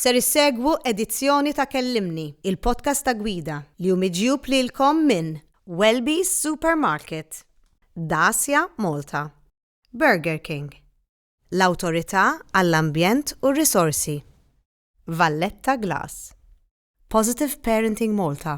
Ser issegwu edizzjoni ta' Kellimni, il-podcast ta' Gwida, li hu miġjub lilkom minn Welby's Supermarket, Dacia Malta, Burger King, l-Awtorità għall-Ambjent u r-Risorsi, Valletta Glass, Positive Parenting Malta,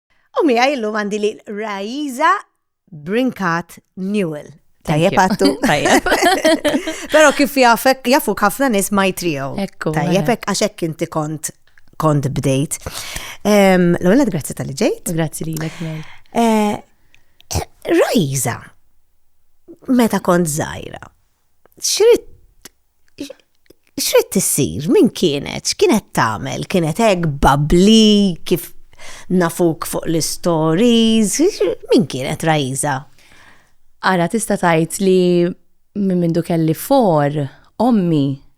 U miegħi llum għandi li Raiza Brinkat Newell. Tajjeb għattu. Tajjeb. Pero kif jafek, jafu ħafna nis ma jtrijaw. Ekku. Tajjeb mela. għaxek inti kont kont bdejt. L-għolad, grazzi tal-li ġejt. Grazzi li l-ek eh, Rajza, meta kont zaħira, xrid xrid tissir, min kienet, x'kienet tagħmel, kienet hekk babli kif nafuk fuq l-istories, min kienet Raiza? Ara tista' tgħid li minn mindu kelli for, ommi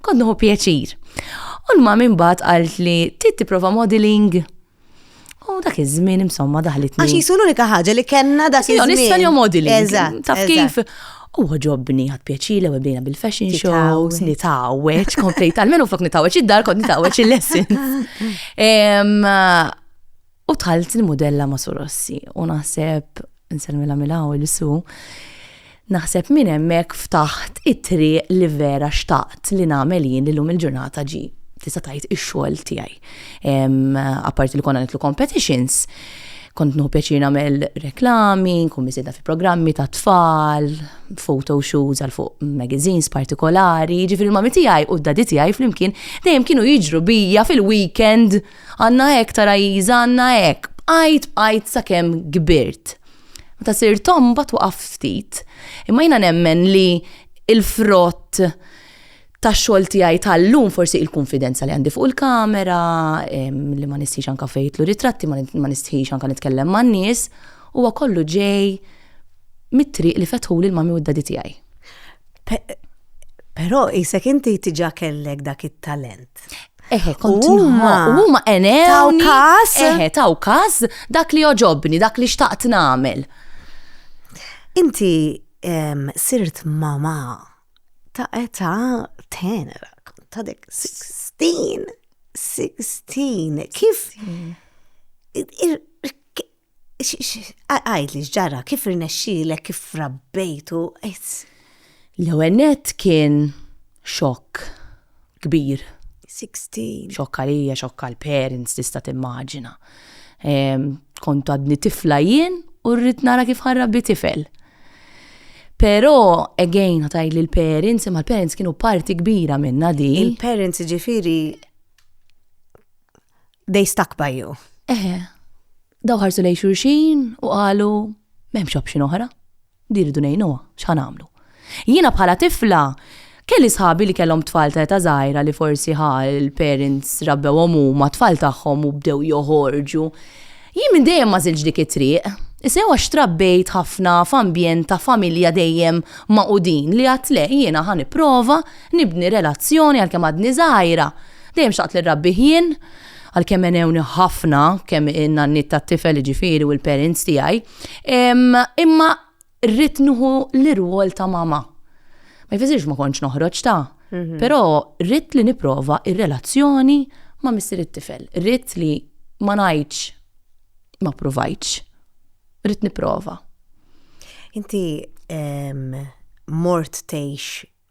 Kont nieħu pjaċir. U l-mam imbagħad qalt li trid tipprova modeling. U dak iż-żmien insomma daħlitni. Għax jisu l-unika ħaġa li kellna dak iż-żmien. Jgħon issa jgħom modeling. Eżatt. Taf kif? U ġobni għad pjaċile u bdejna bil-fashion shows, nitawweċ, komplejt, għalmenu flok nitawweċ id-dar, kont nitawweċ il-lesson. U dħalt il-mudella ma' Surossi u naħseb, nsellmilha mill-għaw il-su, naħseb minn hemmhekk ftaħt it-triq li vera xtaqt li nagħmel jien li llum il-ġurnata ġi tista' tgħid ix-xogħol tiegħi. Apparti li konna nitlu competitions, kont nħu pjaċir nagħmel reklami, nkun miżieda fi programmi ta' tfal, photo shoots għal fuq magazines partikolari, ġifir il-mami tiegħi u d-dadi tiegħi flimkien dejjem kienu jiġru bija fil-weekend Għandna hekk, tara Isa, għandna hekk. Bqajt, bqajt sakemm kbirt. Meta sirt omm mbagħad waqaft ftit. Imma jiena nemmen li l-frott tax-xogħol tiegħi tal-lum forsi il-kunfidenza li għandi fuq il-kamera, li ma nistħix anke fejn jidħlu ritratti, ma nistħix anke nitkellem man-nies, huwa kollu ġej mit-triq li fetħuli l-mami u d-dadi tiegħi. Però isek inti tiġa kellek dak it-talent. Eħe, kont huma enew. Taw kas. Eħe, taw kas dak li oġobni, dak li xtaqt nagħmel. Inti sirt mama ta' età tenera, ta' dek 16, 16, kif Għajd li ġara, kif rnexxilek, kif rabbejtu, L-ewwel net kien xokk kbir. 16. Xokk għalija, xokk għal parents tista' timmaġina. Ehm, kont għadni tifla jien u rrid nara kif ħarrabbi tifel. Pero, again, għataj li l-parents, imma l-parents kienu parti kbira minna di. Il-parents ġifiri they stuck by you. Eħe, daw ħarsu lej xurxin u qalu m'hemmx option oħra. Diridu ngħinuha, x'ħan għamlu. Jiena bħala tifla kelli sħabi li kellhom tfal ta' ta' żgħira li forsi ħa l-parents rabbewhom huma tfal tagħhom u bdew joħorġu. Jien minn dejjem ma żilx dik it-triq. Isew għax trabbejt ħafna f'ambjent ta' familja dejjem maqudin li għatle jiena ħan prova nibni relazzjoni għalkemm għadni żgħira Dejjem xtaqt li nrabbih jien, għalkemm għenewni ħafna kemm in-nanniet tat-tifel jiġifieri u l-parents tiegħi, imma rrid nieħu l-irwol ta' mama. Ma jfissirx ma kontx noħroġ ta', però rrid li nipprova r-relazzjoni ma' missier it-tifel. Rrid li ma ngħidx ma ppruvajtx. Rrid nipprova. Inti mort tgħix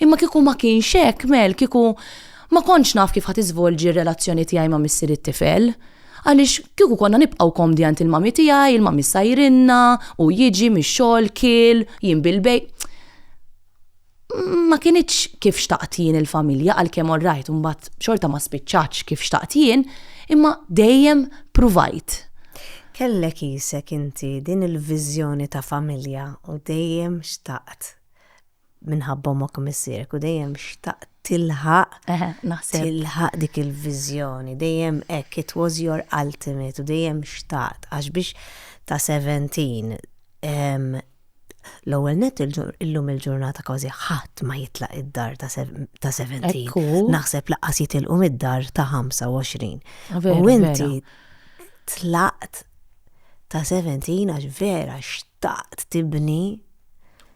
Imma kieku ma kienx hekk, Mel, kieku ma kontx naf kif ħa tiżvolġi r-relazzjoni tiegħi ma' missieri t-tifel. Għaliex, kieku konna nibqgħu komdi għand il-mami tiegħi, il-mami ssajrilna, hu jiġi mix-xogħol, kiel, jien bil-bejgħ. Ma kinitx kif xtaqt jien il-familja għalkemm orrajt imbagħad xorta ma spiċċatx kif xtaqt jien, imma dejjem pruvajt. Kellek qisek inti din il-viżjoni ta' familja u dejjem xtaqt minħabba omok u missierek u dejjem xtaq tilħaq tilħaq dik il-viżjoni, dejjem hekk it was your ultimate u dejjem xtaqt għax biex ta' 17 l-ewwel net illum il-ġurnata kważi ħadd ma jitlaq id-dar ta' 17. Naħseb laqas jitilqu mid-dar ta' 25. U inti tlaqt ta' 17 għax vera xtaqt tibni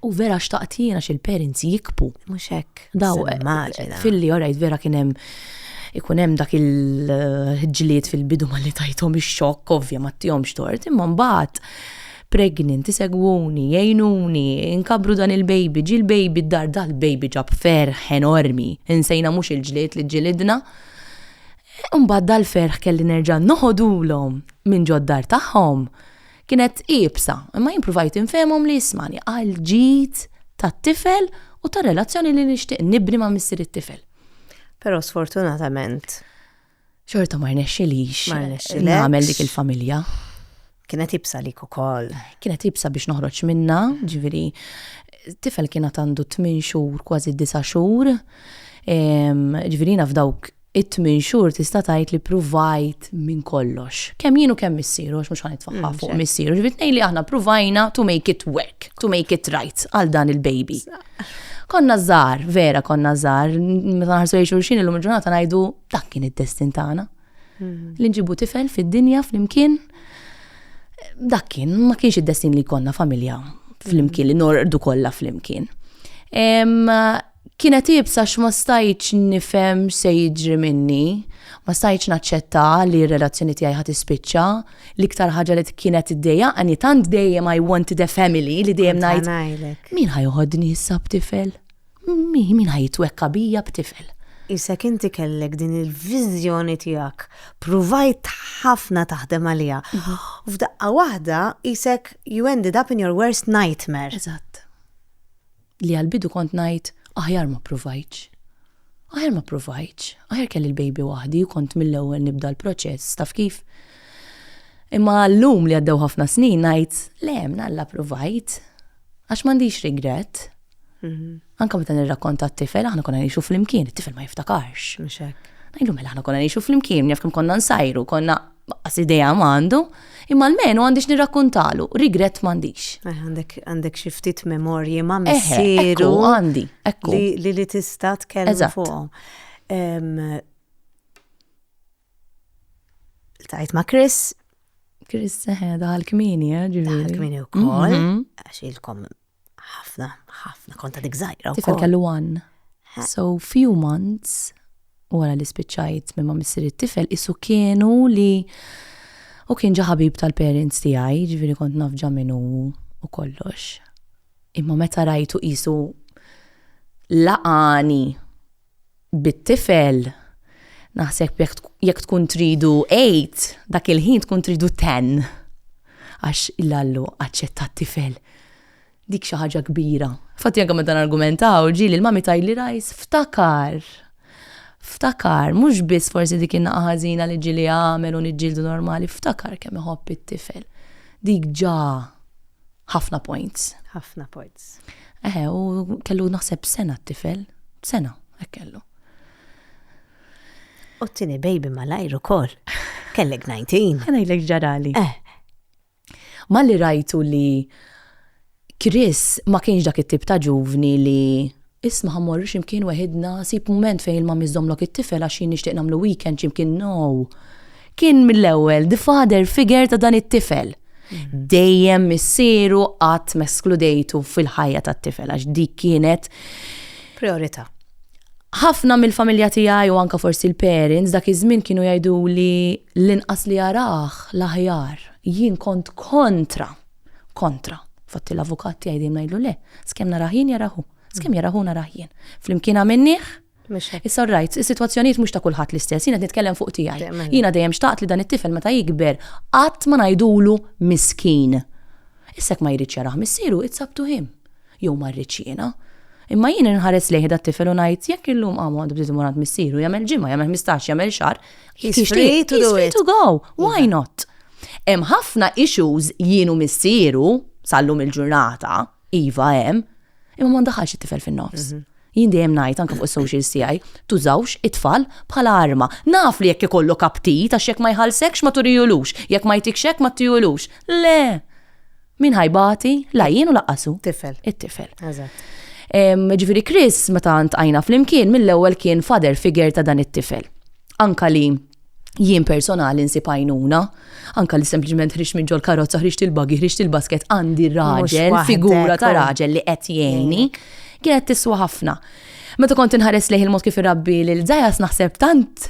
U vera xtaqt jiena xil parents jikbu. Mhux hekk. Daw filli orajt vera kien hemm ikun hemm dak il-ġlied fil-bidu ma li tajthom ix-xokk ovvja ma tihomx tort, imma mbagħad pregnant, isegwuni, jgħinuni, inkabru dan il-baby, ġi l-baby d-dar, dal-baby ġab ferħ enormi, insejna mhux il-ġlied li ġilidna. Imbagħad dal-ferħ kelli nerġa' noħodulhom minn ġod-dar tagħhom. Kienet iebsa, imma jien pruvajt infehemhom li jismagħni għall-ġid tat-tifel u tar-relazzjoni li nixtieq nibni ma' missier it-tifel. Però sfortunatament. Xorta ma rnexxilix. Ma rnexxilek. Nagħmel dik il-familja. Kienet ibsa lik ukoll. Kienet ibsa biex noħroġ minna, ġifieri tifel kien għad għandu tmien xhur kważi disa' xhur. Ġifieri jiena f'dawk it-tmien xhur tista' tgħid li pruvajt minn kollox. Kemm jien u kemm missieru, għax mhux ħa nitfaħħa mm, fuq missieru, ġifieri tnejn li aħna pruvajna to make it work, to make it right għal dan il-baby. Konna żgħar, vera konna żgħar, meta nħarsu lejn xulxin illum il-ġurnata ngħidu dak kien id-destin tagħna. Mm. Li nġibu tifel fid-dinja flimkien. Dak kien ma kienx id-destin li konna familja flimkien li nordu kollha flimkien. Kienet iebsa għax ma stajtx nifhem x'se jiġri minni. Ma stajtx naċċetta li r-relazzjoni tiegħi ħa tispiċċa. L-iktar ħaġa li kienet iddejjaqni, tant dejjem I wanted a family li dejjem ngħid, Min ħa joħodni issa b'tifel? Min ħa jitwekka bija b'tifel? Qisek inti kellek din il-viżjoni tiegħek, pruvajt ħafna taħdem għaliha. Mhm. U f'daqqa waħda qisek you ended up in your worst nightmare. Eżatt. li għall-bidu kont ngħid, aħjar ma ppruvajtx. Aħjar ma ppruvajtx, aħjar kelli l-baby waħdi u kont mill-ewwel nibda l-proċess, taf kif? Imma llum li għaddew ħafna snin ngħid, le, mnalla ppruvajt, għax m'għandix regret. Mhm. Anka meta nirrakkonta t-tifel, aħna konna ngħixu flimkien, it-tifel ma jiftakarx. Ngħidu mela aħna konna ngħixu flimkien, jaf kemm konna nsajru, konna Baqqas idea ma għandu, imma almenu għandix nirrakkuntalu, rigrett m'għandix. Eh, għandek għandek xi ftit memorji ma' missieru. Għandi, ekku. Li li tista' tkellem fuqhom. Tajt ma' Chris. Chris seħeda eh, għal-kmini, eh, ġiviri. Għal-kmini u koll, mhm. għax il-kom Ħafna, ħafna, kont għadek żgħira wkoll. Tifel kellu għan. So few months wara li spiċċajt minn ma missier it-tifel isu kienu li u kien ġa ħabib tal-parents tiegħi, ġifieri kont naf ġa min hu u kollox. Imma meta rajtu qisu laqani bit-tifel, naħseb jekk jekk tkun tridu eight, dak il-ħin tkun tridu ten. Għax il-Allu aċċetta t-tifel. Dik xi ħaġa kbira. Infatti anke meta nargumentaw, ġieli l-mami tgħidli Rajs, ftakar! Ftakar, mhux biss forsi dik in-naqa' ħażina li ġieli għamel u niġġieldu normali, ftakar kemm iħobb it-tifel. Dik ġa Ħafna points. Ħafna points. Eħe, u kellu naħseb sena t-tifel, sena, hekk kellu. U t-tini baby malajr u kol. Kellek 19. Għanajlek ġarali. Eh. Ma li rajtu li Chris ma kienx dak it-tip ta' ġuvni li Isma' ħa mmorru xi mkien weħidna, sib mument fejn il-mummy żżommlok it-tifel għax jien nixtieq nagħmlu weekend xi mkien no! Kien mill-ewwel the father figure ta' dan it-tifel. Dejjem missieru qatt m'eskludejtu fil-ħajja tat-tifel għax dik kienet Prijorità. Ħafna mill-familja tiegħi u anke forsi l-parents dak iż-żmien kienu jgħiduli l-inqas li arah l-aħjar. Jien kont kontra! Kontra. Infatti l-avukat tiegħi dejjem ngħidlu le, skemm narah jien jarah hu, skemm jarah hu narah jien. Flimkien għamilnieh. Mhux hekk. It's alright, is-sitwazzjonijiet mhux ta' kulħadd l-istess, jien qed nitkellem fuq tiegħi. Jiena dejjem xtaqt li dan it-tifel meta jikber qatt ma ngħidulu miskin. Issa jekk ma jridx jarah missieru, it's up to him. Jew ma rridx jiena. Imma jien inħares lejh dat-tifel u ngħid, jekk illum qam u għandu bżid imur għand missieru, jagħmel ġimgħa, jagħmel ħmistax, jagħmel xahar, jekk jixtieq, he's free to go, why not? Hemm ħafna issues jien u missieru, sal-lum il-ġurnata, iva hemm, imma ma ndaħħalx it-tifel fin-nofs. Jien dejjem ngħid anke fuq is-socials tiegħi, tużawx it-tfal bħala arma. Naf li jekk ikollok aptit għax jekk ma jħallsekx ma turihulux, jekk ma jtikx hekk ma tihulux. Le! Min ħa jbati, la jien u laqqas hu. Tifel. It-tifel. Eżatt. Em, Ġifieri Chris meta ntqajna flimkien mill-ewwel kien father figure ta' dan it-tifel. Anka li jien personali nsib għajnuna, anka li sempliċement ħriġt minn ġol karozza, ħriġt il-buggy, ħriġt il-basket għandi raġel, waħdek, figura ta' u- raġel li qed jgħinni, kienet tiswa ħafna. Meta kont inħares lejh il-mod kif irabbi lil Zajas naħseb tant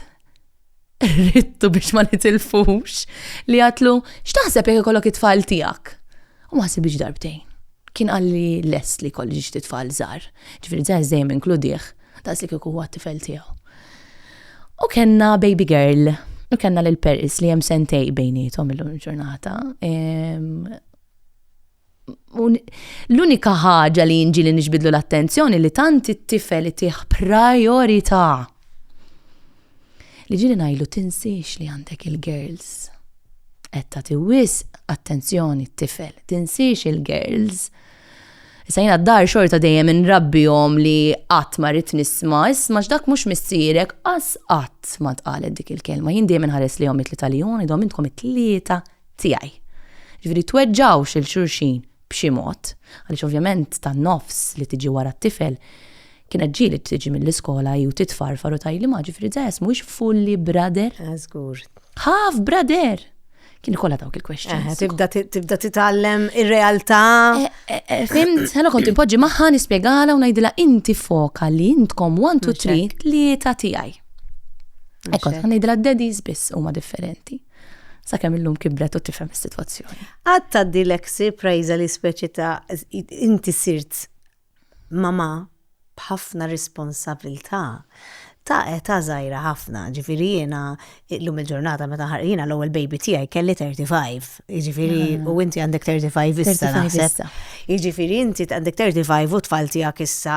Rittu biex ma nitilfux li għatlu x'taħseb jekk ikollok it-tfal tiegħek. U ma ħsibx darbtejn. Kien qalli lest li kolli ġiġ tfal żgħar. Ġifieri żgħar dejjem inkludih daqs li kieku huwa t-tifel tiegħu. U kellna baby girl, u kellna lil Paris li hemm sentej bejnietom illum il-ġurnata. L-unika ħaġa li jinġi li nixbidlu l-attenzjoni li tant it-tifel itih priorità. Li ġili najlu tinsiex li għandek il-girls. Etta tiwis attenzjoni t-tifel, tinsiex il-girls. Issa jina d-dar xorta dejjem nrabbihom li qatt ma rrid nisma, isma x'dak mhux missierek, qas qatt ma tqalet dik il-kelma. Jien dejjem inħares li jom it-tlieta li jom, idhom intkom it-tlieta tiegħi. Ġifieri tweġġgħux lil xulxin b'xi mod, għaliex ovvjament tan-nofs li tiġi wara t-tifel kienet ġieli tiġi mill-iskola hi u titfarfar u tgħidli ma ġifieri Zayas mhuwiex fully brother? Żgur. Half brother! Kien ikollha dawk il-questions. Tibda titgħallem ir-realtà. Eh, eh, eh, fimt, ħana kont impoġġi magħha nispjegala u ngħidilha inti foka li intkom 1 2 3 tlieta tiegħi. Ekkont, ħana ngħidilha daddies biss huma differenti. sakemm illum kibret u tifhem is-sitwazzjoni. Għad tgħaddi l-eksi prajza li speċi ta' inti sirt mama b'ħafna responsabilità ta' età żgħira ħafna, ġifieri jiena illum il-ġurnata meta ħar jiena l-ewwel baby tiegħi kelli 35, jiġifieri mm. u inti għandek 35 issa naħseb. Jiġifieri inti għandek 35 u tfal tiegħek issa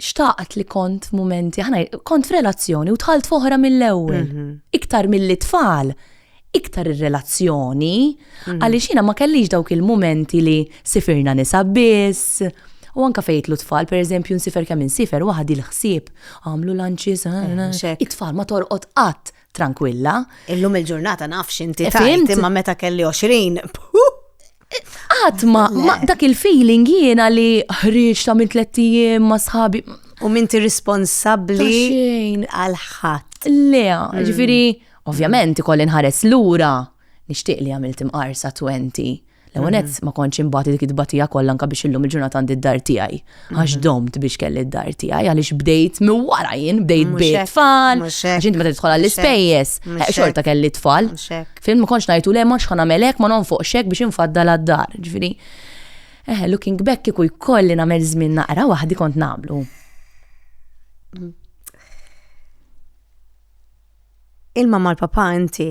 xtaqt li kont f'mumenti, ħana kont f'relazzjoni u tħalt foħra mill-ewwel. Mhm. Iktar mill-li tfal, iktar ir-relazzjoni, mhm. għaliex jiena ma kellix dawk il-mumenti li sifirna nisa biss, U anka fejtlu tfal, per eżempju, nsifer kemm insifer waħdi l-ħsieb, għamlu lanċis, eh, it-tfal ma torqod qatt tranquilla. Illum il-ġurnata nafx inti tajt, imma meta kelli 20, Qatt ma dak il-feeling jiena li ħriġ ta' minn tliet ijiem ma' sħabi. U minti responsabbli għal ħadd. Le, mm. ġifieri, ovvjament ikolli nħares lura nixtieq li għamilt imqarsa 20. L-ewwel mm. ma kontx imbagħad dik it-tbatija kollha anke biex illum il-ġurnata għandi d-dar tiegħi. għax mhm. domt biex kelli d-dar tiegħi għaliex bdejt minn wara jien bdejt bejt tfal, għax inti meta tidħol għall-ispejjeż, eh, xorta kelli tfal. Film ma kontx ngħidu le ma xħana melek ma nonfoq xek biex infaddal għad-dar, ġifieri. Eh, looking back kieku jkolli nagħmel żmien naqra waħdi kont nagħmlu. Ilma mal-papa inti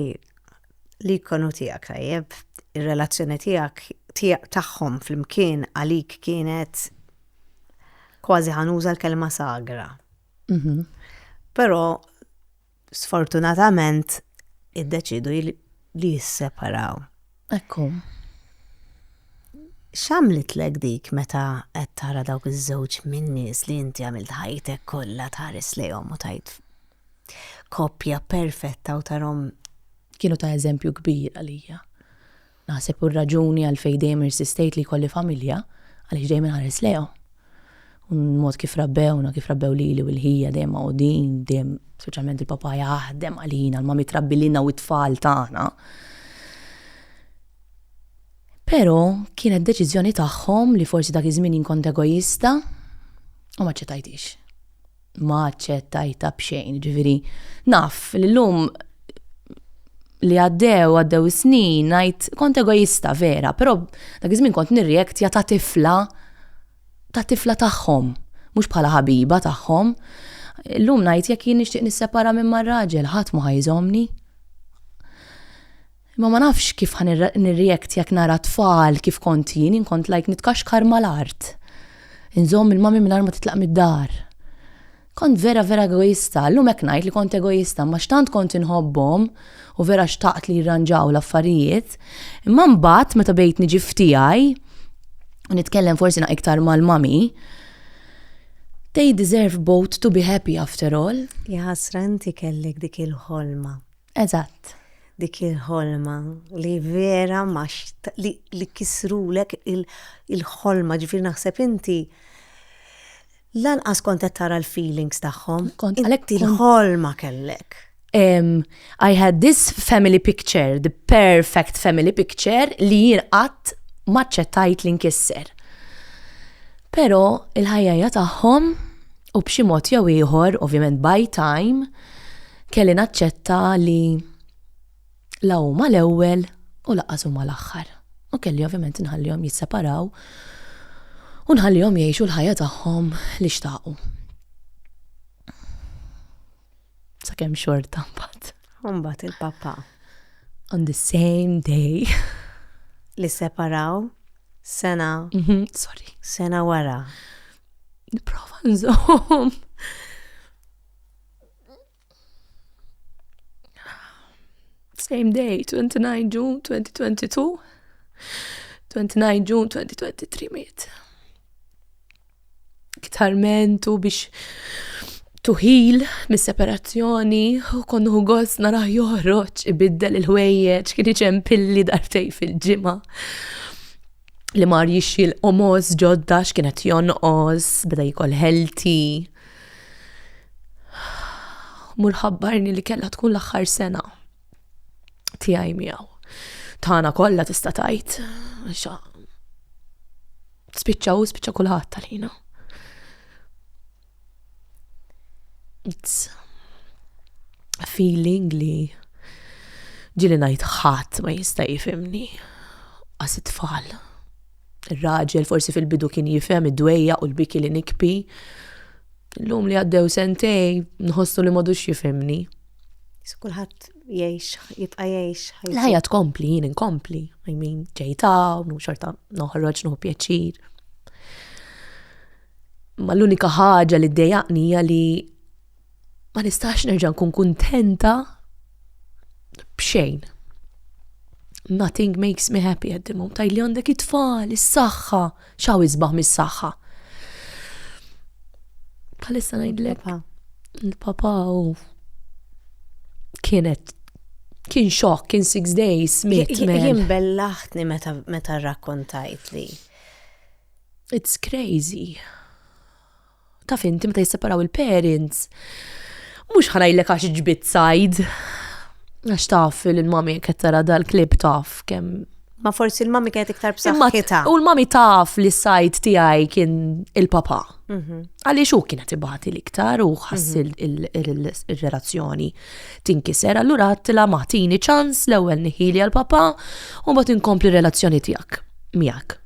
L-ikon hu tiegħek, tajjeb. Ir-relazzjoni tiegħek, tiegħek tagħhom flimkien għalik kienet kważi ħanuża l-kelma sagra. Mhm. Però sfortunatament iddeċidu li jisseparaw. Ekku. X'għamlitlek dik meta qed tara dawk iż-żewġ min-nies li inti għamilt ħajtek kollha tħares lejhom u tgħid koppja perfetta u tarhom. Kienu ta' eżempju kbir għalija. Naħseb hu r-raġuni għalfejn dejjem irsistejt li jkolli familja għaliex dejjem inħares lejhom. U l-mod kif rabbewna, kif rabbew lili u lil ħija dejjem magħqudin, dejjem speċjalment il-papà jaħdem għalina, l-mami trabbi lilna u t-tfal tagħna. Però kienet deċiżjoni tagħhom li forsi dak iż-żmien jien kont egoista u ma ċċettajthiex. ma aċċettajta b'xejn, ġifieri naf li llum li għaddew għaddew is-snin ngħid kont egoista vera, però dak iż-żmien kont nirreaktja ta' tifla ta' tifla tagħhom, mhux bħala ħabiba tagħhom. Illum ngħid jekk jien nixtieq nissepara minn mar-raġel ħadd mhu ħa jżommni. Imma ma nafx kif ħa nirreact jekk nara t-tfal kif kont jien, jien kont like nitkaxkar mal-art. Inżomm il-mommy mingħajr ma titlaq mid-dar. Kont vera vera egoista, llum hekk ngħid li kont egoista imma x'tant kont inħobbhom u vera xtaqt li jirranġaw l-affarijiet. Imma mbagħad meta bdejt niġi f'tiegħi u nitkellem forsi naq iktar mal-mommy, they deserve both to be happy after all. Jaħasra inti kellek dik il-ħolma Eżatt. Dik il-ħolma li vera ma li, li kisrulek il-ħolma, il ġifir naħseb inti lanqas kont qed tara l-feelings tagħhom. Kont għalhekk il-ħolma kellek. Um, I had this family picture, the perfect family picture li jien qatt maċċettajt li nkisser. Pero il-ħajja tagħhom u b'xi mod jew ieħor, ovvjament by time, Kelli naċċetta li la huma l-ewwel u lanqas huma l-aħħar. U kelli ovvjament inħallihom jisseparaw u nħallihom jgħixu l-ħajja tagħhom li xtaqu. Sakemm xorta mbagħad. Mbagħad il-papà. On the same day. Li separaw sena. Mhm, sorry. Sena wara. Niprofa nżomm. Same day, 29 June 2022, 29 June 2023 miet. Iktar mentu biex tuħil mis-separazzjoni u konnu għos naraħ joħroġ ibiddel il-ħwejjeġ kien iġem pilli dartej fil-ġimgħa li mar jixxi l-qomos ġodda x'kienet jonqos beda jikol ħelti. Mur ħabbarni li kellha tkun l-aħħar sena tiegħi miegħu. Tana kollha tista' tgħid. Spiċċa u spiċċa kulħadd tal-ħina. It's a feeling li ġili ngħid ħadd ma jista' jifimni għas it-tfal. Ir-raġel forsi fil-bidu kien jifhem id-dwejja u l-biki li nikpi. L-lum li għaddew sentej, nħossu li madux jifhimni. Kulħadd jgħix, jibqa' jgħix. L-ħajja tkompli, jien inkompli. I mean, ġejta, u xorta noħroġ nuħu pjaċir. Ma l-unika ħaġa li ddejaqni hija li ma nistax nerġa' nkun kuntenta b'xejn. Nothing makes me happy at the moment. Tajli għandek it-tfal, is-saħħa, xaw isbaħ mis-saħħa. Bħalissa ngħidlek. Il-papa u kienet kien xok, kien six days, mit. Jien bellaħtni meta rakkontajt li. It's crazy. Taf inti meta jisseparaw il-parents, mhux ħa ngħidlek għax ġbidt sajd. Għax taf il-mami qed tara dal-klib taf kemm Ma forsi l-mami kienet iktar b'saħħitha. U l-mami taf li s-sajt tiegħi kien il-papa. Mhm. Għaliex hu kienet ibati l-iktar u ħass mhm. il-relazzjoni tinkiser, allura għattila maħtini ċans l-ewwel niħili għal-papa u mbagħad inkompli relazzjoni tiegħek miegħek.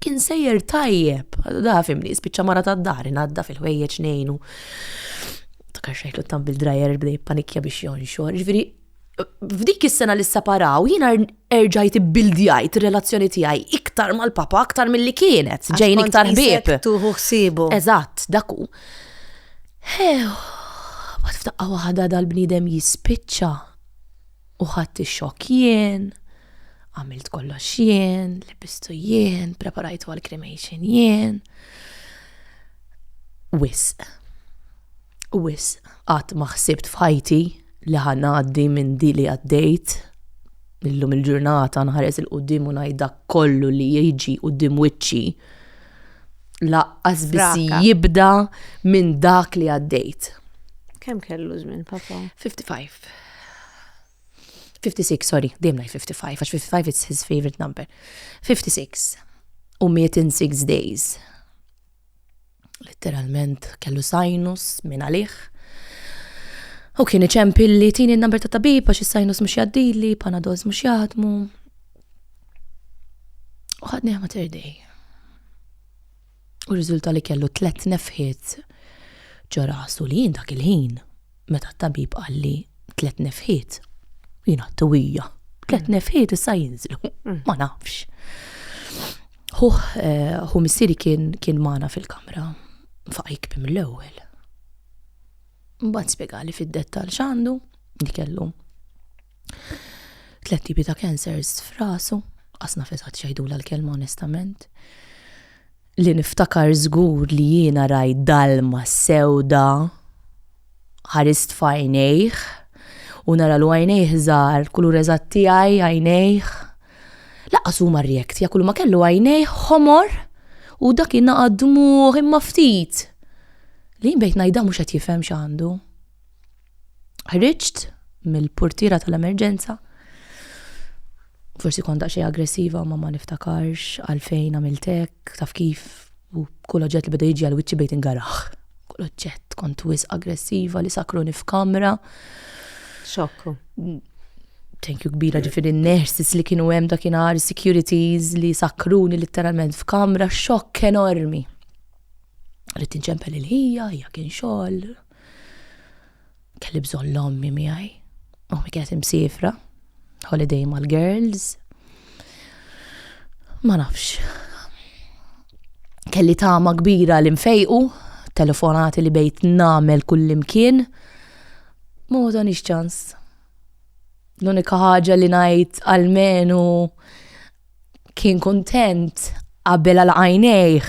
kien sejjer tajjeb, da fimni, spiċċa mara ta' dar, nadda fil-ħwejjeġ nejnu. Ta' kaxħajtu tam bil-drajer bdej panikja biex jonxor. Ġviri, f'dik is-sena li separaw, jiena er-, erġajt bildjajt relazzjoni tiegħi iktar mal-papa aktar mill-li kienet, ġejn iktar bib. Tuħu ħsibu. Eżatt, daku. Hew, bat f'daqqa waħda dal-bniedem jispiċċa. U ħadt ix-xokk jien, għamilt kollox jien, libistu jien, preparajtu għall-cremation jien. Wisq. Wisq. Qatt ma ħsibt f'ħajti li ħa ngħaddi minn di li għaddejt. Illum il-ġurnata nħares il-qudiem u ngħid dak kollu li jiġi qudiem wiċċi laqqas biss Fraka. jibda minn dak li għaddejt. Kemm kellu żmien, papa? 55. 56, sorry, dejjem ngħid 55 għax 55 it's his favorite number. 56 u miet in six days. Literalment kellu sinus minn għalih. U kien iċempi li tini n-number ta' tabib għax is-sinus mhux jaddili, panadols mhux jaħdmu. U ħadni ħamater dej. u rriżulta li kellu tliet nefħiet ġo rasu li jien dak il-ħin meta t-tabib qalli tliet nefħiet jien għadt uwija. Tliet mm. nefħiet issa jinżlu, mm. ma nafx. Hu eh, missieri kien kien magħna fil-kamra faqajk bim l-ewwel. Mbagħad spjegali fid-dettall x'għandu li kellu Tlet tipi ta' cancers f'rasu, għasna fesat xajdula l-kelma onestament. Li niftakar żgur li jiena raj dalma sewda ħarist fajnejh u nara l għajnejh żgħar, kulur eżatt tiegħi għajnejh. Laqas huma rjekt, ja kull ma kellu għajnejh ħomor u dak jinaqa' dmugħ imma ftit. Li jien bdejt ngħidha mhux qed jifhem x'għandu. Ħriġt mill-purtiera tal-emerġenza. Forsi kont daqsxejn aggressiva ma ma niftakarx għalfejn għamilt hekk, taf kif u kull oġġett li beda jiġi għal wiċċi bejt ingaraħ. Kull oġġett kont wis aggressiva li sakruni f'kamra. Xokku. Thank you kbira ġifiri n-nurses li kienu hemm dakinhar, securities li sakruni literalment f'kamra, xokk enormi. Rrid tinċempel il-ħija, hija kien xogħol, Kelli bżonn l-ommi miegħi. Ommi kienet imsifra, holiday mal-girls. Ma nafx. Kelli tama kbira li nfejqu, telefonati li bejt namel kullimkien. Ma wadanix ċans. L-unika ħaġa li najt għalmenu kien kontent qabel għal għajnejħ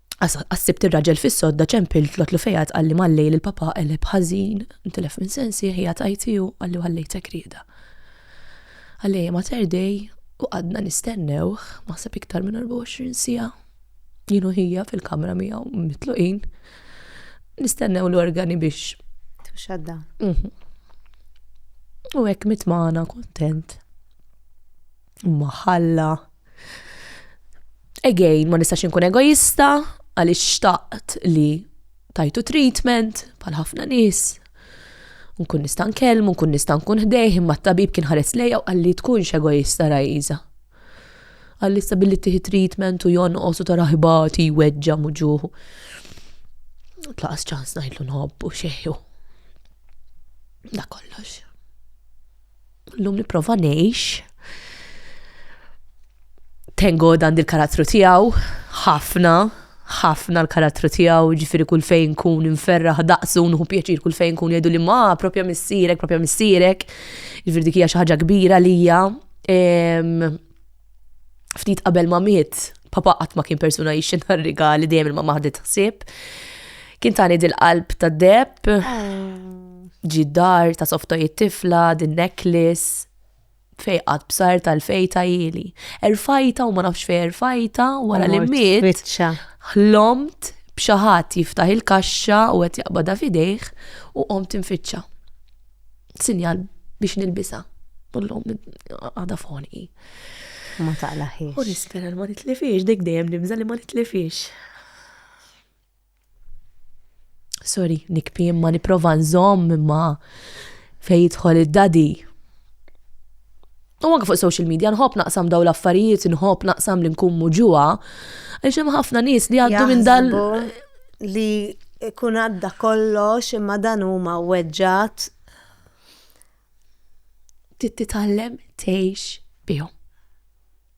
Għas sibt ir-raġel fis-sodda ċempilt l-otlu fejat qalli mal-lejl il-papa qeleb ħażin, ntilef minn sensi, ħija tajti u qalli ħallejtek rieda. Għalej ma terdej u għadna nistennewh ma sab iktar minn 24 sija. Jienu ħija fil-kamra miegħu mitluqin. Nistennew l-organi biex. Tuxadda. Mhm. U hekk mitmana kontent. Imma ħalla. Again, ma nistax inkun egoista għaliex xtaqt li tajtu treatment bħal ħafna nies. Nkun nista' nkellmu, nkun nista' nkun ħdejh, imma t-tabib kien ħares lejja u qalli tkunx egoista rajza. Qalli billi tieħi treatment u jonqos u tara ħibati, weġġa muġuħu. Tlaqas ċans ngħidlu nħobbu xejju. Da kollox. Llum nipprova ngħix tengo dan il-karattru tiegħu ħafna ħafna l-karattru tiegħu, ġifiri kull fejn kun inferraħ daqsu, nħu pjaċir kull fejn kun jgħidu li ma, propja missirek, propja missirek, ġifiri dik hija xi ħaġa kbira lija. ftit qabel ma miet, papa qatt ma kien persuna jixxi nar rigali dejjem il-mamma ħadet ħsieb. Kien tani dil-qalb ta' deb, ġi dar ta' softojiet tifla, din necklace, fejqat bsar tal-fejta jili. Erfajta u ma nafx fej erfajta wara li miet. Biċċa. Ħlomt b'xaħat jiftaħ il-kaxxa u qed jaqbada fidejh u qomt infittxa. sinjal biex nilbisha. Ullum għada f'ħonqi. Ma taqlaħiex. U nispera li ma nitlifiex, dik dejjem nibża li ma nitlifiex. Sorry, nikpi imma niprofa nżomm imma fejn jidħol id-dadi. U anke fuq social media nħobb naqsam dawn l-affarijiet, nħobb naqsam li nkun muġuha, għax hemm ħafna nies li għaddu minn dal. Li kun għadda kollox imma dan huma weġġat. Tittitallem tgħix bihom.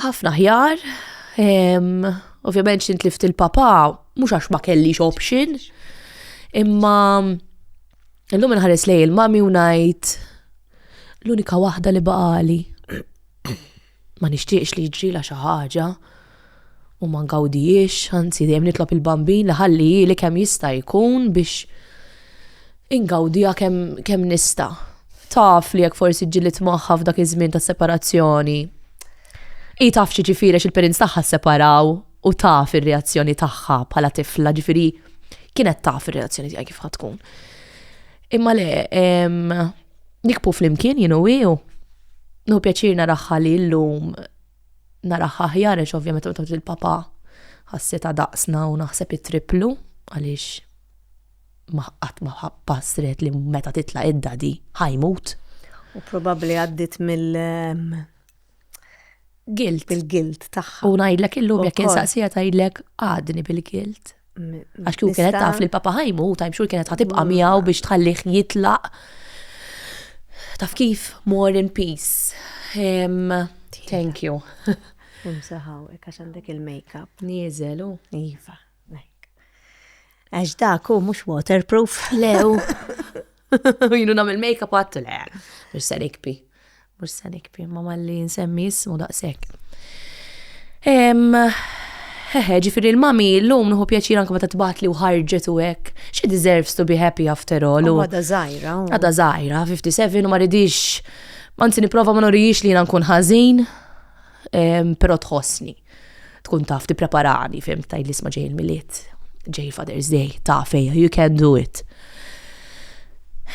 Ħafna ħjar, ovvjament xint lift il-papa, mhux għax ma kellix option, imma illum inħares lej il-mami u ngħid l-unika waħda li baqali. Ma nixtieqx li ġrila xi ħaġa u ma ngawdijiex, anzi dejjem nitlob il-bambin li ħalli li kemm jista' jkun biex Ingawdiha kemm kemm nista'. Taf li jekk forsi ġġilidt magħha f'dak iż-żmien ta' separazzjoni. Hi taf x'jiġifieri għax il-parents tagħha sseparaw u taf ir-reazzjoni tagħha bħala tifla, ġifieri kienet taf ir-reazzjoni tiegħi kif ħa tkun. Imma le, nikbu flimkien jien u hi u nieħu pjaċir naraha li llum naraha aħjar għax ovvja meta tgħod il-papa ħassitha daqsna u naħseb it-tripplu għaliex. ma qatt ma ħa pass ried li meta titla' id-daddy ħa jmut. U probabbli għaddiet mill guilt. Mill-guilt tagħha. U ngħidlek illum jekk insaqsiha tgħidlek għadni bil-guilt. Għax kieku kienet taf li l-papa ħa jmut, għajm xhur kienet ħatibqa' mm. miegħu biex tħallih jitlaq. Taf kif more in peace. Thank you. Imsaħaw, għax għandek il-makeup. Nieżel, u. Iva. Għax dak hu mhux waterproof. Le hu. Jienu nagħmel make-up għattu le. Mhux se nikpi. Mhux se nikpi, ma malli nsemmi jismu daqshekk. Hehe, ġifieri l-mami llum nħu pjaċir anke meta tbagħat li u ħarġet u hekk. She deserves to be happy after all. Għada żgħira. Għada żgħira, 57 u ma ridix. Anzi nipprova ma norijiex li jiena nkun ħażin, però tħossni. Tkun taf tippreparani, fim, tajli isma' ġej il-Milied, ġej Father's Day, ta' fejja, you can do it.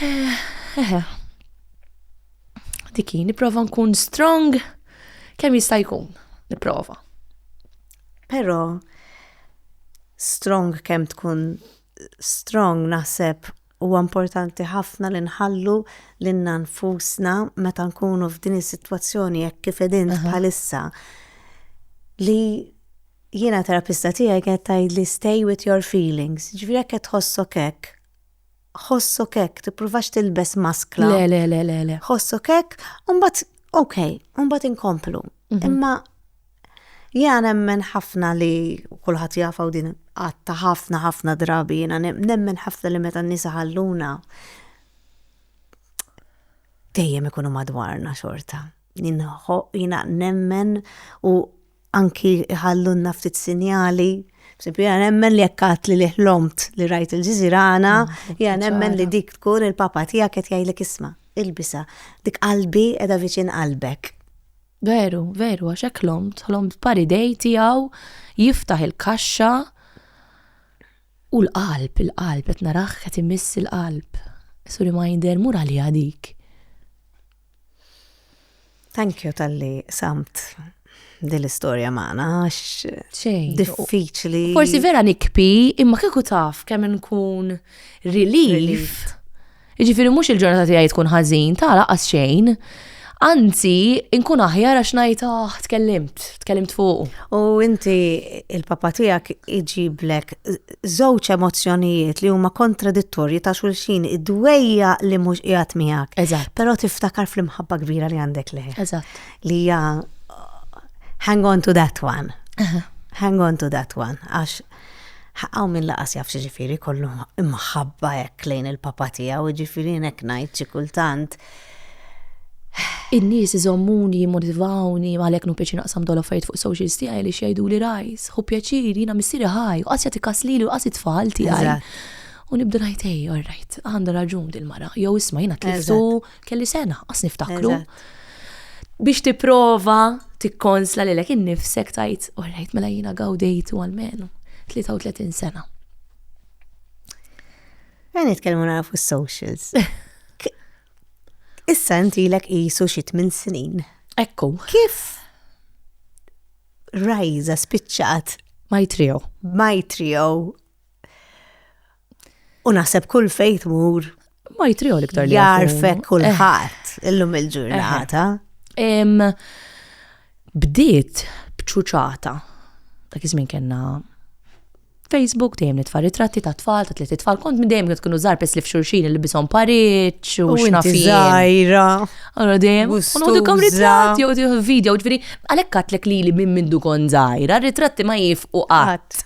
Eh, eh, eh. Diki, niprofa nkun strong kemm jista' jkun, niprofa. Però strong kemm tkun strong naħseb Huwa importanti ħafna li nħallu lilna nfusna meta nkunu f'din is-sitwazzjoni hekk kif qegħdin bħalissa li jiena terapista tiegħi kienet tgħidli stay with your feelings, ġifieri jekk qed tħossok hekk, ħossok hekk, tippruvax tilbes maskla. Le, le, le, le, le. Ħossok hekk, u mbagħad, okay, u mbagħad inkomplu. Mhm. Imma Jiena nemmen ħafna li, u kulħadd jafha u din qatta ħafna ħafna drabi, jiena nemmen ħafna li meta n-nies iħalluna dejjem ikunu madwarna xorta. Jiena nemmen u anki iħallulna ftit sinjali, jiena nemmen li jekk għidt li ħlomt li rajt il-ġiżirana, jiena nemmen li dik tkun il-papa tiegħek qed jgħidlek isma', ilbisha, dik qalbi qiegħda viċin qalbek. Veru, veru, għax hekk ħlomt, ħlomt b'pari dej tiegħu jiftaħ il-kaxxa u l-qalb, il-qalb qed narah qed imiss il-qalb. As a reminder, mur għaliha dik. Thank you tal-li samt din l-istorja magħna għax xejn diffiċli. Forsi vera nikpi imma kieku taf kemm nkun relieved Jiġifieri mhux il-ġurnata tiegħi tkun ħażin, ta' laqas xejn. Anzi, inkun aħjar għax ngħid ah, tkellimt, tkellimt fuq. U inti il-papa tiegħek iġiblek żewġ emozzjonijiet li huma kontradittorji ta' xulxin id-dwejja li mhux qiegħed miegħek. Eżatt. Però tiftakar fl-imħabba kbira li għandek lejh. Eżatt. Li hija hang on to that one. Hang on to that one. Għax Hawn min laqas jaf x'jiġifieri jkollu imħabba hekk lejn il-papa tiegħu, jiġifieri jien hekk ngħid xi kultant. In-nies iżommuni, jimmotivawni, għalhekk nu pjaċir naqsam dawn l-affarijiet fuq is-socials tiegħi għaliex jgħiduli rajs, ħu pjaċir, jiena missieri ħaj, u qass jagħti kas lili u qass it-tfal tiegħi. U nibda ngħid ej, all right, għandha raġun dil-mara, jew isma' jiena tliftu kelli sena, għas niftakru. Biex tipprova tikkonsla li l-ek innifsek tajt, u rajt mela jina għawdejtu għal-menu, 33 sena. Għan nitkellmu nara fuq socials. Issa inti l-ek jisu xit minn snin. Ekku. Kif rajza spiċċat? Majtrio. Majtrio U naħseb kull fejt mur. Ma jitriħol iktar li. Jarfek kullħat eh. illum il-ġurnata. Eh. Bdiet bċuċata. Dak iż-żmien kellna Facebook dejjem nitfa' ritratti ta' tfal, ta' tliet tfal, kont dejjem qed tkunu żgħar pes li f'xulxin li bishom pariċ u x'nafi. Żgħira. Allora dejjem. U nħodukom ritratti u video, ġifieri għalhekk għatlek li li minn mindu kon żgħira, ritratti ma jifqu qatt.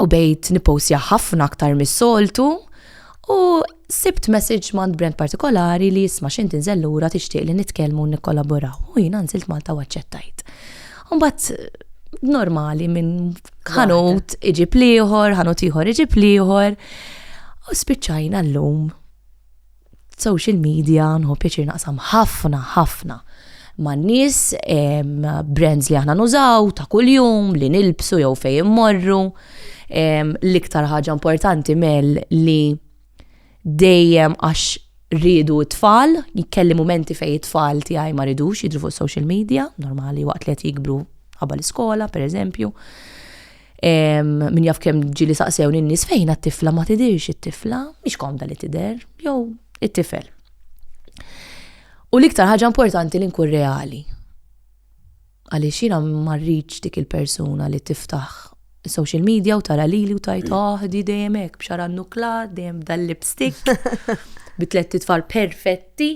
u bejt nipostja ħafna aktar mis-soltu u sibt message mand brand partikolari li jisma' xint inżel lura tixtieq li nitkellmu u nikkollaboraw. U jiena nżilt Malta u aċċettajt. Mbagħad normali minn ħanut iġib liħor, ħanut ieħor iġib liħor. U spiċċajna llum social media nħu pjaċir naqsam ħafna ħafna ma' nies brands li aħna nużaw ta' kuljum li nilbsu jew fejn immorru. L-iktar ħaġa importanti mel li dejjem għax rridu t-tfal, jkelli momenti fejn it-tfal tiegħi ma ridux jidru fuq social media, normali waqt li qed jikbru ħabba l-iskola, pereżempju. Min jaf kemm ġili saqsewni n-nies fejn għat-tifla ma tidirx it-tifla, mhix komda li tidher, jew it-tifel. U l-iktar ħaġa importanti li nkun reali. Għaliex jiena marriċ dik il-persuna li tiftaħ social media u tara lili u tajt aħdi ah, dejjem hekk b'xara nuklat, dejjem dal-lipstick, bi tliet titfal perfetti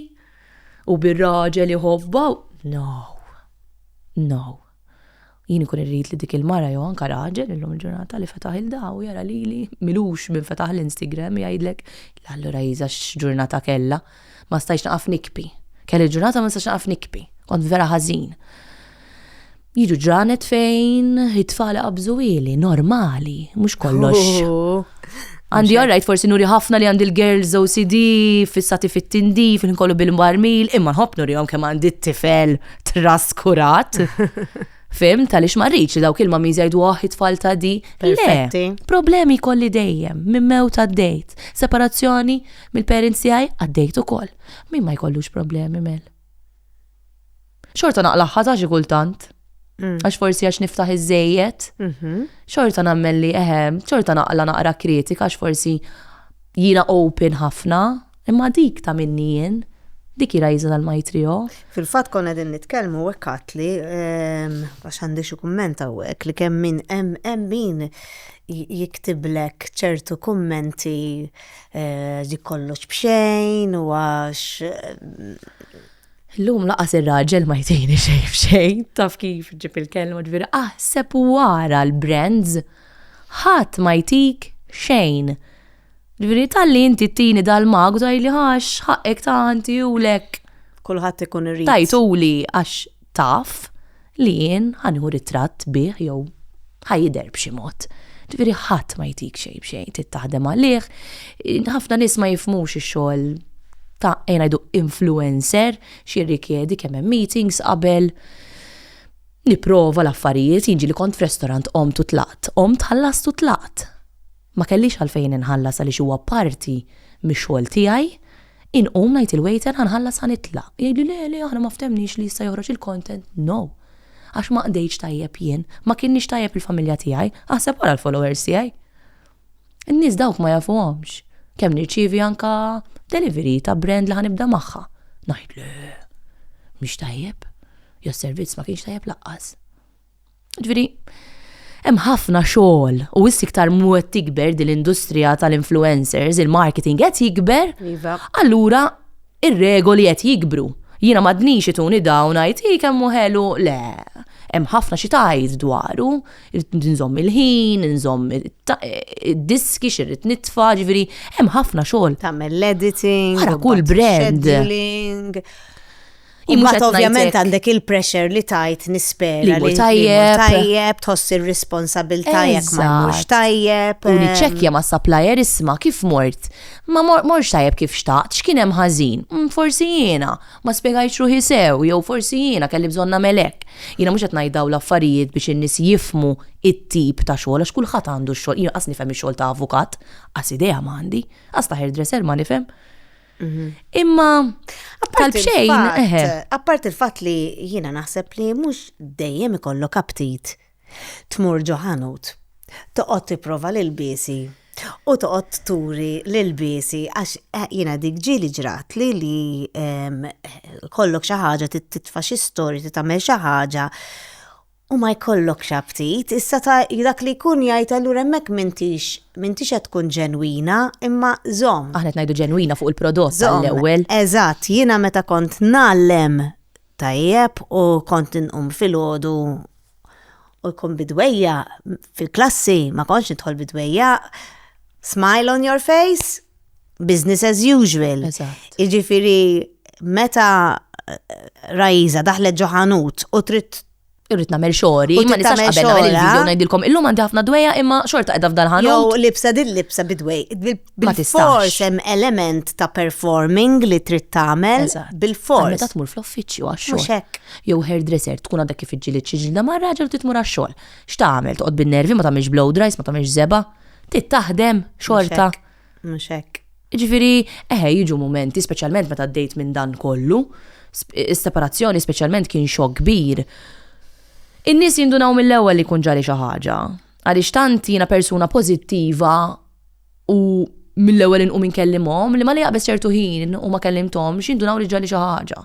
u bir-raġel iħobba. No. No. Jien ikun irrid li dik il-mara jew anke raġel illum il-ġurnata li fetaħ il-da u jara lili milux minn fetaħ l-Instagram jgħidlek la allura Isa x'ġurnata kellha. Ma stajtx naqaf nikpi. Kelli ġurnata ma nistax naqaf nikpi. Kont vera ħażin. Jiġu ġranet fejn it-tfal qabżu ili, normali, mhux kollox. Għandi all right forsi nuri ħafna li għandi l-girls OCD, fissati fit-tindi, fin kollu bil-marmil, imma nħobb nuri għom kemm għandi t-tifel traskurat. Fim, tal-ix marriċ li dawk il mami jgħidu oh, it-tfal ta' di. Le, problemi kolli dejjem, minn mew ta' dejt, separazzjoni mill-parents tiegħi għaddejt ukoll. Min ma jkollux problemi mel. Xorta naqla' ħata xi kultant. Mm. Għax forsi għax niftaħ iż-żejjed. Mhm. Xorta nagħmel li eħe, xorta naqla naqra kritika għax forsi jina open ħafna, imma dik ta' minni jien, dik jira jiza tal-majtrio. Fil-fat konna din nitkellmu u għekat li, ehm, għax għandi xi kumment għawek, li kemm min hemm hemm min jiktiblek ċertu kummenti eh, li kollox bxejn u għax ehm, Illum laqas ir-raġel ma jtejni xejn f'xejn, taf kif ġib il-kelma ġviri, aħseb wara l-brands, ħadd ma jtik xejn. Ġviri tal-li inti tini dal-magu tajli ħax ħaqqek ta' għanti u lek. Kulħadd ikun irrid. Tajtuli għax taf. li jien ħa nieħu ritratt bih jew ħa jidher b'xi mod. Ġifieri ħadd ma jtik xejn b'xejn, trid taħdem għalih. Ħafna nies ma jifhmux ix-xogħol ta' ejn ngħidu influencer x'jirrikjedi kemm hemm meetings qabel nipprova l-affarijiet, jien ġieli kont f'restorant qomt u tlaqt, qomt ħallast u tlaqt. Ma kellix għalfejn inħallas għaliex huwa parti mix-xogħol tiegħi. Inqum ngħid il-waiter ħa nħallas ħa nitlaq. Jgħidli le, le aħna ma ftemniex li issa joħroġ il-content. No! Għax ma qdejtx tajjeb jien, ma kienniex tajjeb il-familja tiegħi, aħseb ara l-followers tiegħi. In-nies dawk ma jafuhomx. Kemm nirċievi anke delivery ta' brand li ħa nibda magħha. Ngħid le, mhix tajjeb. Jew servizz ma kienx tajjeb laqqas. Ġifieri, hemm ħafna xogħol u wissi iktar mwed tikber din l-industrija tal-influencers, il-marketing qed jikber. Iva. Allura ir-regoli qed jikbru. Jiena m'għadnix ituni dawn ngħid hi kemm ħelu le. Hemm ħafna xi tgħid dwaru, nżomm il-ħin, nżomm id-diski xirrid nitfa', ġifieri hemm ħafna xogħol. Tagħmel l-editing, kull brand. Imbagħad ovvjament għandek il-pressure li tajt nispera li tajjeb, tajjeb tħoss ir-responsabilità jekk ma mhux tajjeb. U niċċekkja ehm. ma' supplier isma' kif mort. Ma morx tajjeb kif xtaqt, x'kien hemm ħażin? Mm, forsi jiena, ma spjegajtx ruħi sew, jew forsi jiena kelli bżonn nagħmel hekk. Jiena mhux qed ngħid l-affarijiet biex in-nies jifmu it-tip ta' xogħol għax kulħadd għandu x-xogħol. Jiena qas nifhem ix-xogħol ta' avukat, qas idea m'għandi, qas ta' hairdresser ma nifhem. Mhm. Imma tal-bxejn, eħe. Appart il-fat li jina naħseb li mux dejjem ikollok aptit tmur ġoħanut, toqgħod tipprova l biesi u toqgħod turi l biesi għax eh, jina dik ġili ġrat li li kollok xi ħaġa titfa' xi storja tagħmel xi ħaġa U ma jkollokx aptit, issa ta' dak li jkun jgħid allura hemmhekk m'intix, m'intix qed tkun ġenwina, imma żomm. Aħna qed ngħidu ġenwina fuq il-prodott għall-ewwel. Żomm, eżatt, jiena meta kont ngħallem tajjeb u kont inqum filgħodu u jkun bid-dwejjaq fil-klassi, ma kontx nidħol bid-dwejjaq, smile on your face. business as usual. Iġifiri, meta Raiza daħlet ġoħanut u trid irrid nagħmel xogħli, ma nistax qabel nagħmel il-video ngħidilkom illum għandi ħafna dwejja imma xorta qiegħda f'dan ħanut. Jew libsa din libsa bidwej. Bil-fors hemm element ta' performing li trid tagħmel bil-fors. Meta tmur fl-uffiċċju għax-xogħol. Jew hairdresser tkun għadha kif iġġieled xi ġilda ma' raġel trid tmur għax-xogħol. X'tagħmel toqgħod bin-nervi ma tagħmilx blow dries, ma tagħmilx żeba' Trid taħdem xorta. Mhux hekk. Ġifieri, eħe jiġu mumenti, speċjalment meta għaddejt minn dan kollu, is-separazzjoni speċjalment kien xokk kbir. In-nies jindunaw mill-ewwel li jkun ġali xi ħaġa, għaliex tant jiena persuna pożittiva u mill-ewwel inqum inkellimhom li ma li jaqbeż ċertu ħin u ma kellimthomx jindunaw li ġali xi ħaġa.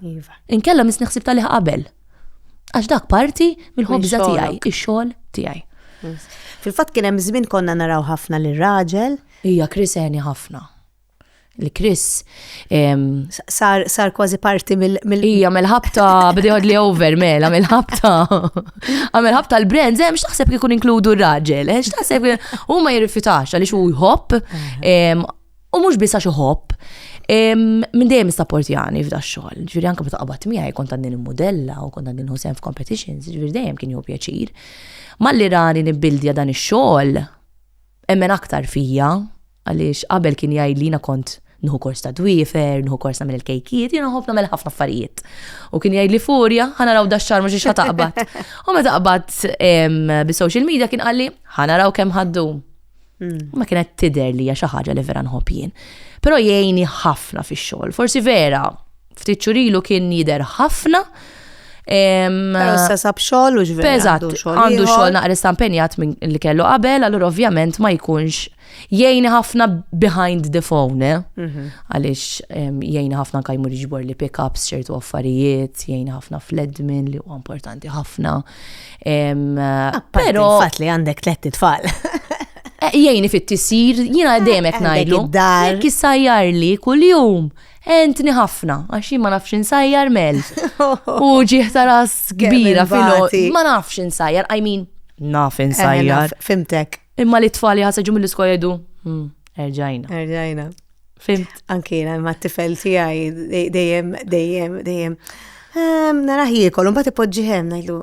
Iva. Inkella misni ħsib tal qabel. Għax dak parti mill-ħobża tiegħi, ix-xogħol tiegħi. Fil-fatt kien hemm żmien konna naraw ħafna lir raġel Hija Chris għeni ħafna. Li Chris sar, sar kważi parti mill Hija mill-ħabta bdi li over mela mill-ħabta. Għamel ħabta l-brand, hemm x'taħseb kif ikun inkludu r-raġel, eh, x'taħseb huma jirrifjutax għaliex hu jħobb U mhux biss għax iħobb, minn dejjem jani f'da xogħol. Ġifieri anke meta qabad miegħi kont għandin il-mudella u kont għandin ħusem f'competitions, ġifieri dejjem kien jew pjaċir. Malli rani nibildja dan ix-xogħol, emmen aktar fija, għaliex qabel kien jgħid li kont nħu kors ta' dwifer, nħu kors nagħmel il-kejkiet, jiena nħobb nagħmel ħafna affarijiet. U kien jgħid li furja, ħana raw dax-xar mhux ix taqbad. U meta taqbad bi social media kien qalli, ħana raw kemm ħaddu. Mm. Ma kienet tider li hija xi ħaġa li vera nħobb jien. Però jgħini ħafna fix-xogħol. Forsi vera, ftit xurilu kien jider ħafna. Però issa sab xogħol u ġveri. Eżatt, għandu xogħol naqra stampenjat minn li kellu qabel, allura ovvjament ma jkunx jgħini ħafna behind the phone, eh? mhm. għaliex jgħini ħafna kajmur jġbor li pick-ups ċertu affarijiet, jgħini ħafna fl-admin li huwa importanti ħafna, Pero. Fatt li għandek tletti tfal. Eh, jgħini fit-tisir, jina eh, demet najlu. Jekk jissajjar li kull-jum, entni ħafna, għaxi ma nafx insajjar mel. U ġieħta ras kbira fil Ma nafx insajjar, I mean, naf eh, insajjar. Fimtek. Imma li t-tfali ħasaġu mill-iskola jedu. Hmm, erġajna. Erġajna. Fimt. Anki jena, ma t-tifel tijaj, dejjem, dejjem, dejjem. Ehm, Naraħ jikol, un bat ipoġġi hemm, najdu,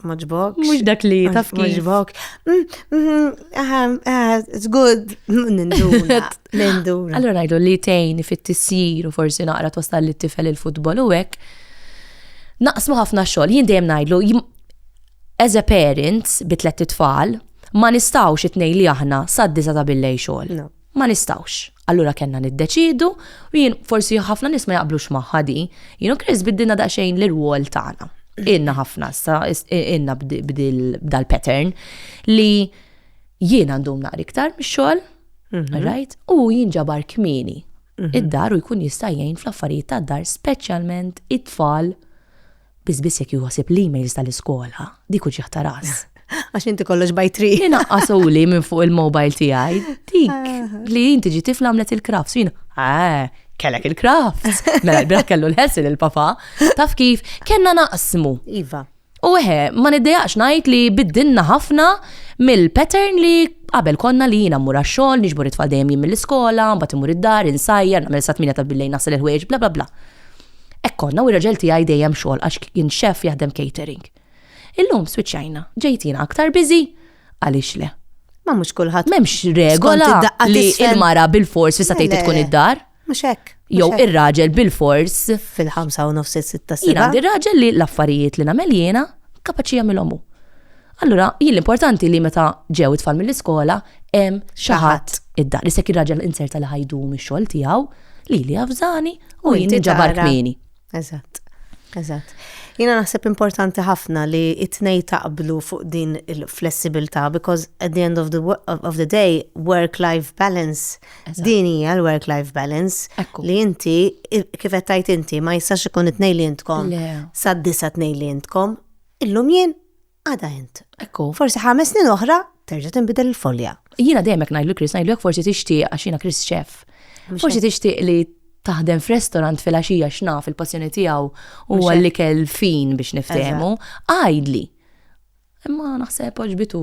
maġbok. Mux dak li taf kif. Maġbok. Mm, mm, mm, ah, it's good. Ninduna. Ninduna. Allora najdu li tejn fit tissir u forsi naqra twasal li t-tifel il-futbol u hekk. Naqsmu ħafna xogħol, jien dejjem ngħidlu as a parent bi tliet tfal ma nistgħux it-tnej li aħna sad-disa ta' billej xogħol. Ma nistgħux. Allura kellna niddeċiedu, u jien, forsi ħafna nies ma jaqblux magħha di, jien u Chris biddilna daqsxejn l-irwol tagħna. Ilna ħafna issa, ilna b'dal-pattern li jien għandhom naqra iktar mix-xogħol, mhm. right, u jien ġabar kmieni mhm. id-dar u jkun jista' jgħin fl-affarijiet tad-dar, speċjalment it-tfal Biss biss jekk jieħu ħsieb l-emails tal-iskola, dik hu ġieħ ta' ras. Għax inti kollox by three. Inaqqasuli minn fuq il-mobile tiegħi. Dik li inti ġi tifla għamlet il-crafts jien. Ah, kellek il-crafts. Mela l-bira kellu l-ħessil il-papa. Taf kif kellna naqsmu. Iva. U eħe, ma niddejaqx ngħid li biddinna ħafna mill-pattern li qabel konna li jiena mmur għax-xogħol, niġbor it-tfal dejjem jien mill-iskola, mbagħad imur id-dar, insajjar, nagħmel sa tmiena ta' billejn nasal il-ħwejġ, bla bla bla. Hekk konna u r-raġel tiegħi dejjem xogħol għax kien xeff jaħdem catering. Illum swiċċajna, ġejtina aktar biżi, għaliex le? Ma mhux kulħadd. M'hemmx regola li il-mara bil-fors fissa tgħid tkun id-dar. Mhux hekk. Jew ir-raġel bil-fors. Fil-ħamsa u nofs sitta sena. Għandi raġel li l-affarijiet li nagħmel jiena kapaċi jagħmilhom hu. Allura, jien l-importanti li meta ġew it-tfal mill-iskola hemm xi ħadd id-dar. Li sekk ir-raġel inserta li ħajdu mix-xogħol tiegħu Li li għafżani u jien ġabar kmini. Eżatt. Eżatt. Jina naħseb importanti ħafna li it-tnej taqblu fuq din il-flessibilità because at the end of the, of the day work-life balance din hija l-work-life balance li inti kif qed tajt inti ma jistax ikun it-tnej li intkom sad-disa tnej li intkom illum jien Għada int. Ekku. Forsi ħames snin oħra terġa' tinbidel il-folja. Jiena dejjem hekk ngħidlu Chris, ngħidlu forsi tixtieq għax jiena Chris chef. Forsi tixtieq li taħdem f'restorant fil-għaxija x'naf il-passjoni tiegħu u għalli kell fin biex niftehmu, għajdli. Imma naħseb oġbitu.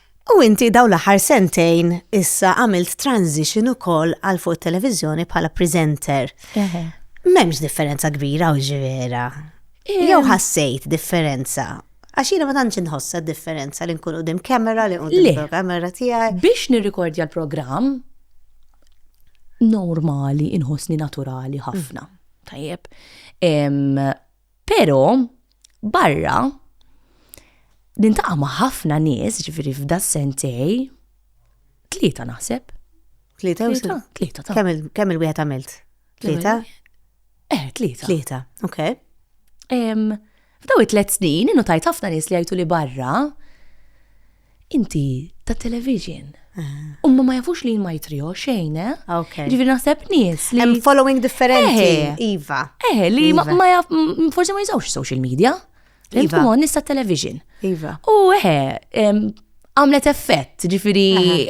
U inti dawn l-aħħar sentejn issa għamilt transition ukoll għal fuq it-televiżjoni bħala presenter. M'hemmx differenza kbira u ġivera. Jew ħassejt differenza Għax jiena ma tantx inħossa differenza li nkun qudiem kamera li qudiem kamera tiegħi. Biex nirrikordja l-programm normali inħossni naturali ħafna. Mm. Tajjeb. Pero, barra, nintaqa' ma' ħafna nies, ġifieri f'da sentej, tlieta naħseb. Tlieta jew tlieta? Tlieta ta'. Kemm il-wieħed għamilt? Tlieta? Eh, tlieta. Tlieta, ok. F'daw it-tliet snin, innu tajt ħafna nies li jgħidu li barra, Inti ta' television. Umma ma jafux li ma jitrio xejn, eh? Ok. Ġifieri naħseb nies li. Hemm following differenti, Eh. iva. Eh, li ma Iva. ma jaf, m- forsi ma jużawx social media. Iva. Iva. Imma nista television. Iva. U eh, em, għamlet effett, ġifiri,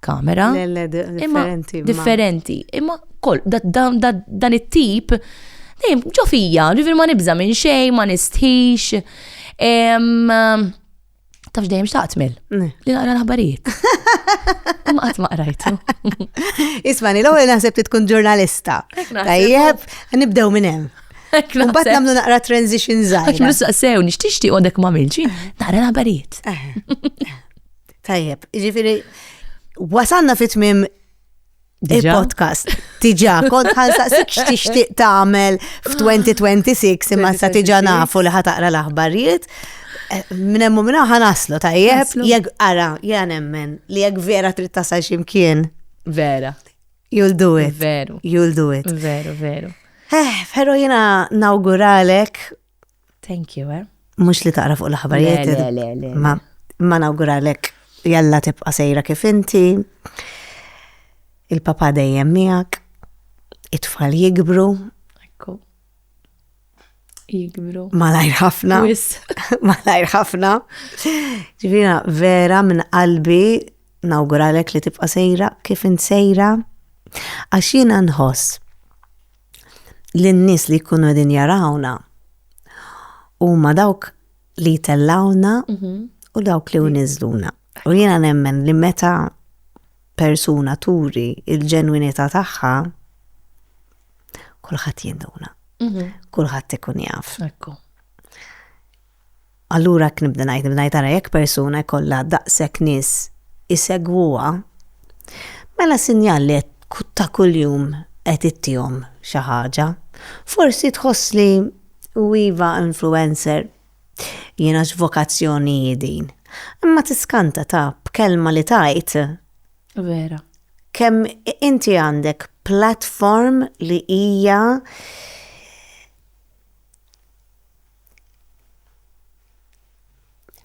kamera. Le, le, di- Imma differenti. ma- differenti. Imma kol, da- da- da- dan it-tip, dejjem ġo fija, ġifir ma nibza minn xej, ma nistħix. Em, Tafx dejjem xtaqt mill Ne. li naqra l-aħbarijiet. Imma qatt ma qrajtu. Ismani, l-ewwel naħseb li tkun ġurnalista. Hekk naħseb. Tajjeb, nibdew minn hemm. Hekk Mbagħad naħseb. nagħmlu naqra transition Għax żgħira. mlu saqsew, nix tixtieq għodek ma milġi, naqra l-aħbarijiet. Eh, Tajjeb, ġifiri, wasanna fit mim il-podcast. Tiġa, kont ħansaqsik x'tixtieq tagħmel f'2026 imma sa tiġa nafu li ħataqra l-aħbarijiet. Eh, Minnemmu minna ħanaslu tajjeb, jek ara, jgħan emmen li jek vera trid tasal ximkien. Vera. You'll do it. Veru. You'll do it. Veru, veru. Eh, pero jena nawguralek Thank you, eh? Mux li taqra fuq l-aħbarijiet. Le, le, le. Ma, ma nawguralek jalla tibqa sejra kif inti. Il-papa dejjem miegħek. It-tfal jikbru. Ekku. Jikbru. Malajr ħafna. Malajr ħafna. Ġivina, vera minn qalbi nawguralek li tibqa sejra kif int sejra. Għax jiena nħoss lin-nies li jkunu qegħdin jarawna huma dawk li jtellawna mhm. u dawk li uniżluna. U jiena nemmen li meta persuna turi il-ġenwinità tagħha kulħadd jinduna. Mhm. Kulħadd ikun jaf. Ekku. Allura hekk nibda ngħid, nibda ngħid ara jekk persuna jkollha daqshekk nies isegwuha, mela sinjal li qed ta' kuljum qed ittihom xi ħaġa. Forsi tħoss li u iva influencer, jiena x'vokazzjoni hi din? Imma tiskanta ta' b'kelma li tgħid. Vera. Kemm inti għandek platform li hija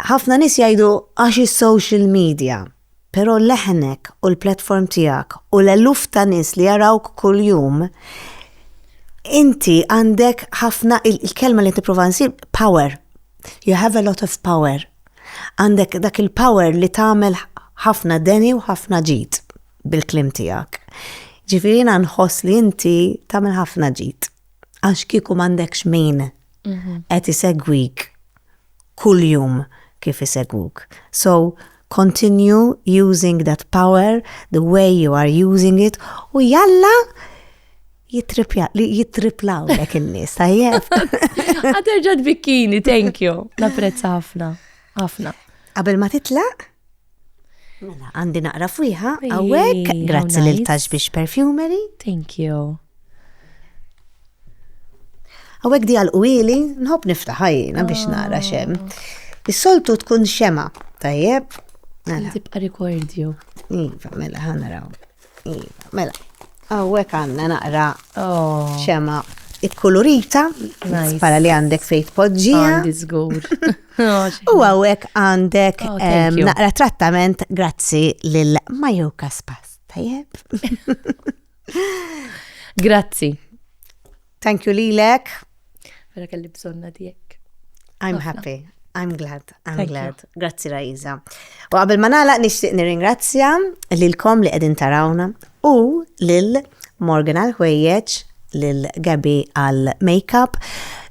Ħafna nies jgħidu għax is-social media, però leħnek u l-platform tiegħek u l-eluf ta' nies li jarawk kuljum inti għandek ħafna il-kelma li qed nipprova nsib power. You have a lot of power. Għandek dak il-power li tagħmel ħafna deni u ħafna ġid bil-kliem tiegħek. Ġifieri jiena nħoss li inti tagħmel ħafna ġid. għax kieku m'għandekx min mhm. qed isegwik kuljum kif isegwuk. So continue using that power the way you are using it u jalla jitriplaw lek il-nis, tajjeb. Għaterġa t-bikkini, thank you. Naprezz ħafna, ħafna. Qabel ma titlaq, Mela, għandi naqra fwiħa, għawek, grazzi lil Tax biex Perfumery. Thank you. Għawek di għal-qwili, nħob niftaħajna biex naqra xem. Is-soltu tkun xema, tajjeb. Mela. Tibqa rikordju. Iva, mela, ħanaraw. Iva, mela. Għawek għanna naqra oh. xema ikkulurita, pala li għandek fejt podġija. Għandi zgur. Oh, u għawek għandek oh, naqra trattament grazzi lil Majo Kaspas. Tajjeb. Grazzi. Thank you lilek. Vera kelli bżonna dijek. I'm happy. I'm glad, I'm Thank glad. You. Grazzi Raiza. U qabel ma nagħlaq nixtieq nirringrazzja lilkom li qegħdin tarawna u lil Morgan għal ħwejjeġ, lil Gabi għal makeup,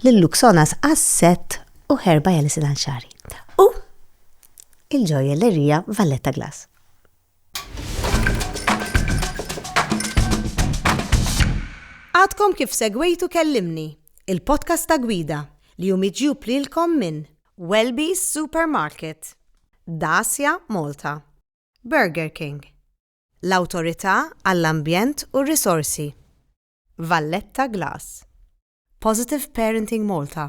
lil Luxonas għas-set u ħerba jalisin għal xari. U il-ġojellerija Valletta Glass. Għadkom kif segwejtu Kellimni, il-podcast ta' Gwida li hu miġjub lilkom minn Welby's Supermarket, Dacia Malta, Burger King, l-Awtorità għall-Ambjent u r-Risorsi, Valletta Glass, Positive Parenting Malta,